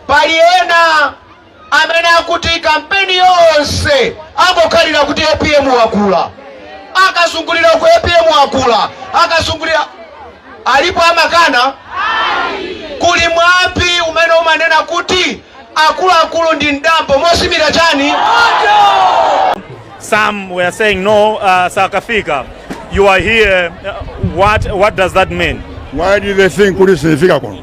Pali ena amene akuti kampeni yonse angokhalira kuti apm wakula, akazungulira uku apm wakula, akazungulira alipo amakana. Kuli mwambi umene umanena kuti akuluakulu ndi mdambo mozimira chani. Some were saying no, uh, sakafika. You are here. Uh, what what does that mean? Why do they think kuti sinifika kuno?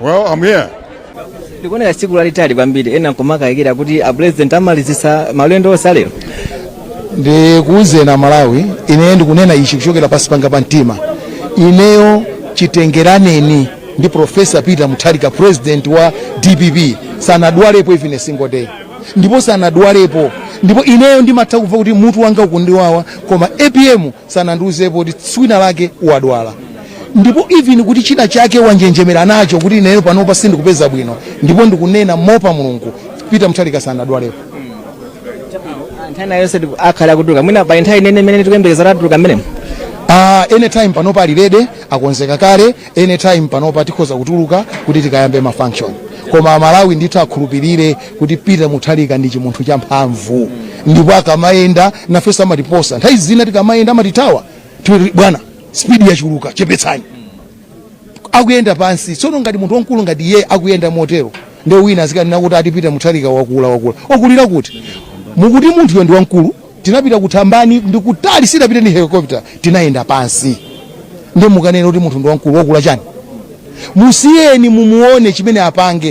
Well, I'm here. Ndikuona tsiku lalitali kwambiri ena nkumakayikira kuti a president amalizisa malendo onse alero. Ndikuwuzeni a Malawi, ine ndikunena ichi kuchokera pansi panga pa mtima. Ineyo chitenganireni ndi Professor Peter Mutharika president wa DPP sanadwalepo even a single day ndipo sanadwalepo ndipo ineyo ndimatha kumva kuti mutu wanga ukundiwawa koma APM sanandiuzepo kuti tsikulina lake wadwala ndipo even kuti china chake wanjenjemera nacho kuti ineyo panopa sindikupeza bwino ndipo ndikunena moopa mulungu peter mutharika sanadwalepo nthawi yonse tiku- akhala akutuluka mwina pa nthawi ine imene tikuyembekeza atuluka mmenemo uh, anytime panopa ali ready akonzeka kale anytime panopa tikhoza kutuluka kuti tikayambe ma function koma amalawi ndithu akhulupirire kuti peter mutharika ndi chimunthu cha mphamvu ndipo akamayenda nafe amatiposa nthawi zina tikamayenda amatithawa bwana speed yachuluka chepetsani akuyenda pansi tsono ngati munthu wamkulu ngati iye akuyenda motero nde wina azikanena kuti ati peter mutharika wakula wakula wakulira kuti mukuti munthuyo ndi wamkulu Tinapita ku Thambani, ndi kutali, sitidapite ndi helicopter, tinayenda pansi. Ndiye mukanene kuti munthu ndi wamkulu, wakula chani? Musiyeni mumuone chimene apange.